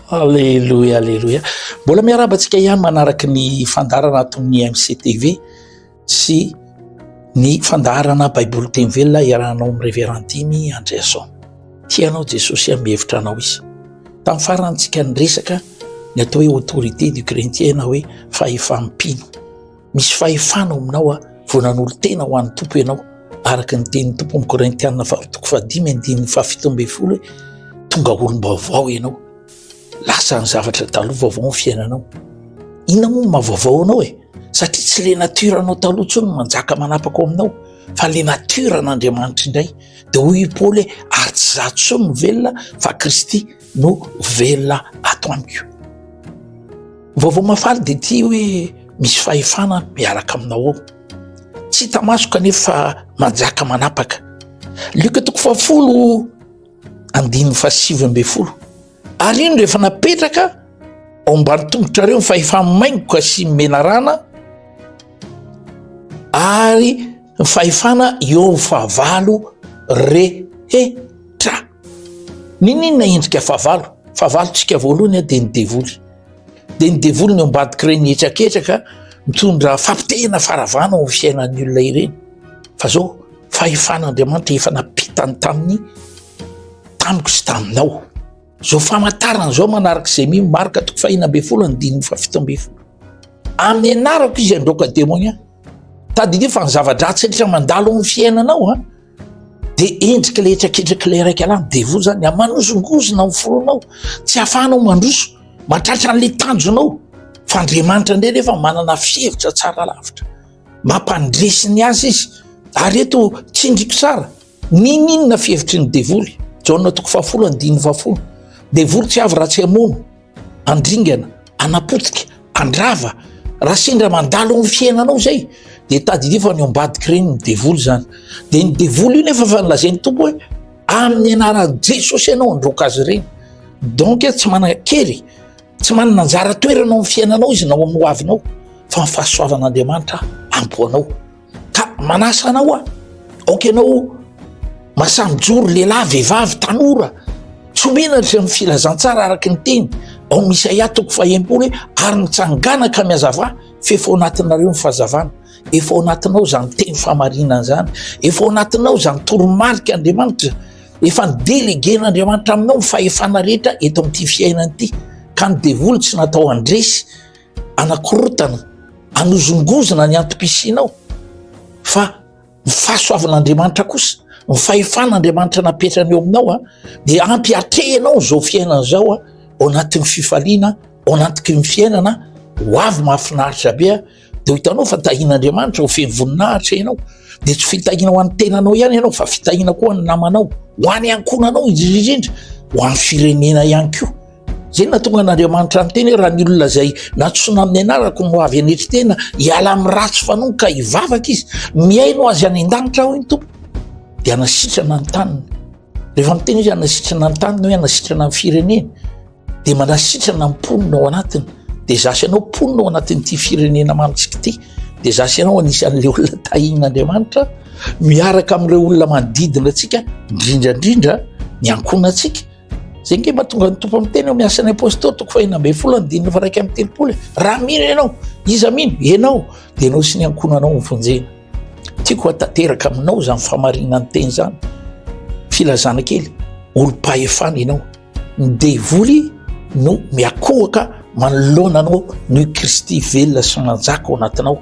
Aleloia, aleloia. Mbola miarahaba antsika ihany manaraka ny fandaharana ato amin'ny MCTV sy ny fandaharana Baiboly teny velona iarahanao amin'ny Révérend Dimy Andriason. Tia anao Jesosy ary mihevitra anao izy. Tamin'ny farantsika niresaka ny atao hoe autorité du chrétien na hoe fahefam-pino. Misy fahefana ao aminao aho vao nanolo-tena ho an'ny Tompo ianao, araka ny tenin'ny Tompo amin'ny Korintiana faharoa toko fahadimy andininy fahafito ambin'ny folo hoe tonga olom-baovao ianao, lasa ny zavatra taloha vaovao ny fiainanao. Inona moa no mahavaovao anao e? Satria tsy le natiora anao taloha intsony no manjaka manapaka ao aminao fa le natiora an'Andriamanitra indray. Dia hoy i Paoly hoe ary tsy izaho intsony no velona fa Kristy. no velona ato amiko. Vaovao mahafaly dia ity hoe misy fahefana miaraka aminao ao. Tsy hita maso kanefa fa manjaka manapaka. Lioka toko fahafolo andininy fahasivy ambin'ny folo. Ary iny rehefa napetraka ao ambany tongotrareo ny fahefa-maingoka sy menarana ary ny fahefana eo amin'ny fahavalo rehetra. N'inon'inona endrika fahavalo, fahavalontsika voalohany dia ny devoly, dia ny devoly ny ao ambadik'ireny hetraketraka mitondra fampitehina faharavana ao amin'ny fiainan'ny olona ireny, fa izao fahefan'Andriamanitra efa nampitany taminy, tamiko sy taminao. Izao famantarana izao manaraka izay mino marka toko fahina ambin'ny folo andininy fahafito ambin'ny folo. Amin'ny anarako izy androaka demonia. Tadidio fa ny zava-dratsy rehetra mandalo amin'ny fiainanao a dia endrika ilay traketraka ilay raika lahy devo zany amanozongozona amin'ny fonao tsy ahafahanao mandroso matratra an'ilay tanjonao fa Andriamanitra indray nefa manana fihevitra tsara lavitra mampandresy ny azy izy ary eto tsindriko tsara Ninoninona fihevitry ny devoly. Jaona toko fahafolo andininy fahafolo. Devoly tsy avy raha tsy hamono, andringana, anapotika, andrava. Raha sendra mandalo ny fiainanao zay de tadidio fa ny ao ambadik'i reny ny devoly zany. De ny devoly io nefa fa nilazain'ny Tompo hoe amin'ny anaran'i Jesosy ianao handroaka azy ireny. Donc tsy manan-kery, tsy manana anjara toerana ao amin'ny fiainanao izy na ao amin'ny hoavinao fa ny fahasoavan'Andriamanitra ampy ho anao. ka manasa anao aho aoka ianao masamijoro lehilahy vehivavy tanora tsy omena ry amin'ny filazantsara araka ny teny ao amin'ny isaia toko fahempolo hoe ary mitsangana ka mihazava f'efa ao anatinareo ny fahazavana efa ao anatinao izany teny fahamarinana izany efa ao anatinao izany toromarika andriamanitra efa ny delegen'andriamanitra aminao ny fahefana rehetra eto amin'ity fiainana ity ka ny devoly tsy natao handresy anakorotana, anozongozona ny antom-pisianao fa ny fahasoavan'Andriamanitra kosa, ny fahefan'Andriamanitra napetrany eo aminao a, dia ampy atrehinao izao fiainana izao a, ao anatin'ny fifaliana, ao anatiky ny fiainana ho avy mahafinaritra be a, dia hitanao fa tahin'Andriamanitra ho feno voninahitra ianao, dia tsy fitahiana ho an'ny tenanao ihany ianao fa fitahiana koa ho an'ny namanao, ho any ankohonanao indrindra indrindra, ho an'ny firenena ihany koa. Zay no nahatonga an'Andriamanitra niteny hoe raha ny olona izay nantsoina amin'ny anarako no avy hanetry tena, hiala amin'ny ratsy fanaony ka hivavaka izy, mihaino azy any an-danitra aho, hoy ny Tompo, dia hanasitrana ny taniny. Rehefa miteny izy hanasitrana ny taniny hoe hanasitrana ny fireneny, dia manasitrana ny mponina ao anatiny. Dia zasy anao mponina ao anatin'ity firenena mamitsika ity, dia zasy anao anisan'ilay olona tahin'Andriamanitra miaraka amin'ireo olona manodidina antsika, indrindra indrindra ny ankohonantsika. Zay nge mahatonga ny tompo miteny ao amin'ny asan'ny apostoly toko fahina ambin'ny folo andininy faraika amin'ny telopolo raha mino ianao iza mino ianao dia ianao sy ny ankohonanao ny fonjena tiako hatanteraka aminao izany famarinany teny izany filazana kely olom-pahefana ianao ny devoly no miakohoka manoloana anao noho kristy velona sy manjaka ao anatinao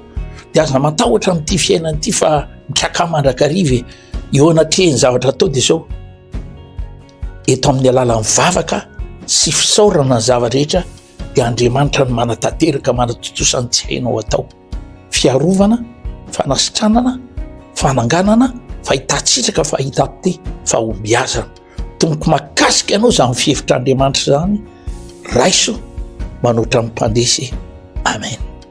dia aza matahotra amin'ity fiainana ity fa mikakà mandrakariva e eo anatrehan'ny zavatra atao dia zao eto amin'ny alalan'ny vavaka sy fisaorana ny zava-drehetra dia Andriamanitra no manatanteraka manatontosa ny tsy hainao atao, fiarovana, fanasitranana, fananganana, fahitan-tsitsaka, fahitam-pe, fahombiazana. Tompoko mahakasika ianao izany fihevitr'Andriamanitra izany, raiso manoatra ny mpandresy. Amen.